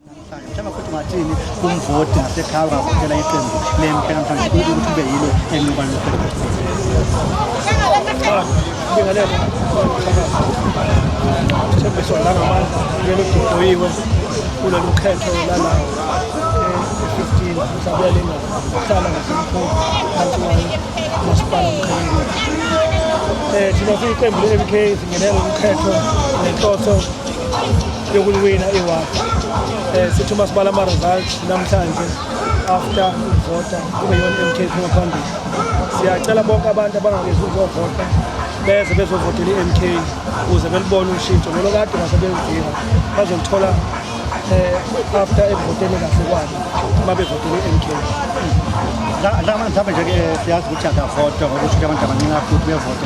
Mhlawumbe futhi ungathini kumvoti nasekhaya ungavotela iqembu lempela mhlawumbe kuthi kube yilo elinokwa Ngibingelele. Thembiso la ngamandla ngeke kudoyiwe kulolu khetho lala e-15 mhlawumbe lenga hlala ngasemkhulu phansi kwayo masipala umkhulu. Eh thina siyiqembu le-MK singenela umkhetho nenhloso yokuliwina iward um eh, sithi uma sibala ama-results namhlanje after ukuvota kube yona i-m k p ngaphambili siyacela bonke abantu abangakezi ukuzovota beze bezovotela i-m k ukuze belibone ushintsho lolo kade ngase belidinga bazolithola um after ekuvoteni kahle kwabo uma bevotele i-m k mhlawumbe nje-ke siyazi ukuthi akavota ngokusho ukuthi abantu abaningi afuthi bevota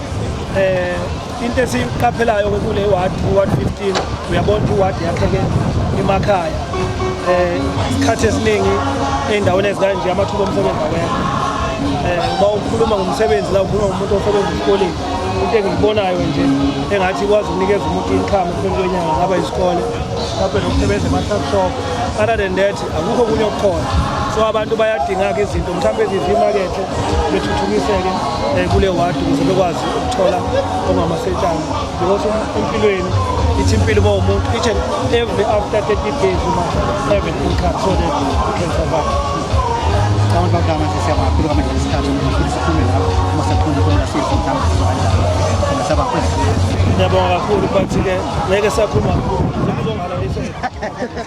um into esiyiqaphelayo ke kule ward u-ward 15 uyabona ukuthi iward yakheke emakhaya um isikhathi esiningi ey'ndaweni ezikanje amathuba omsebenzi awekho um uma ukhuluma ngomsebenzi la ukhuluma ngomuntu osebenza esikoleni into engiyibonayo nje engathi ikwazi ukunikeza umuntu income kwenyanga ngaba isikole mhlawumbe nokusebenza ema-truck shop other than that akukho okunye okukhona so abantu bayadingaka izinto mhlawumbe ezithi imakethe bethuthukiseke um kule wadi ukuze bekwazi ukuthola ongamasetshana because empilweni ithi impilo uma umuntu each and every after 30 days you must have an income so that you can survive abantu bakudama nje siyabona philo kamanje isikhathi ukuthi siphume lapho uma sekhona khona sithi mhlawumbe sizohamba saba kwezi ngiyabonga kakhulu but ke ngeke sakhuluma kakhulu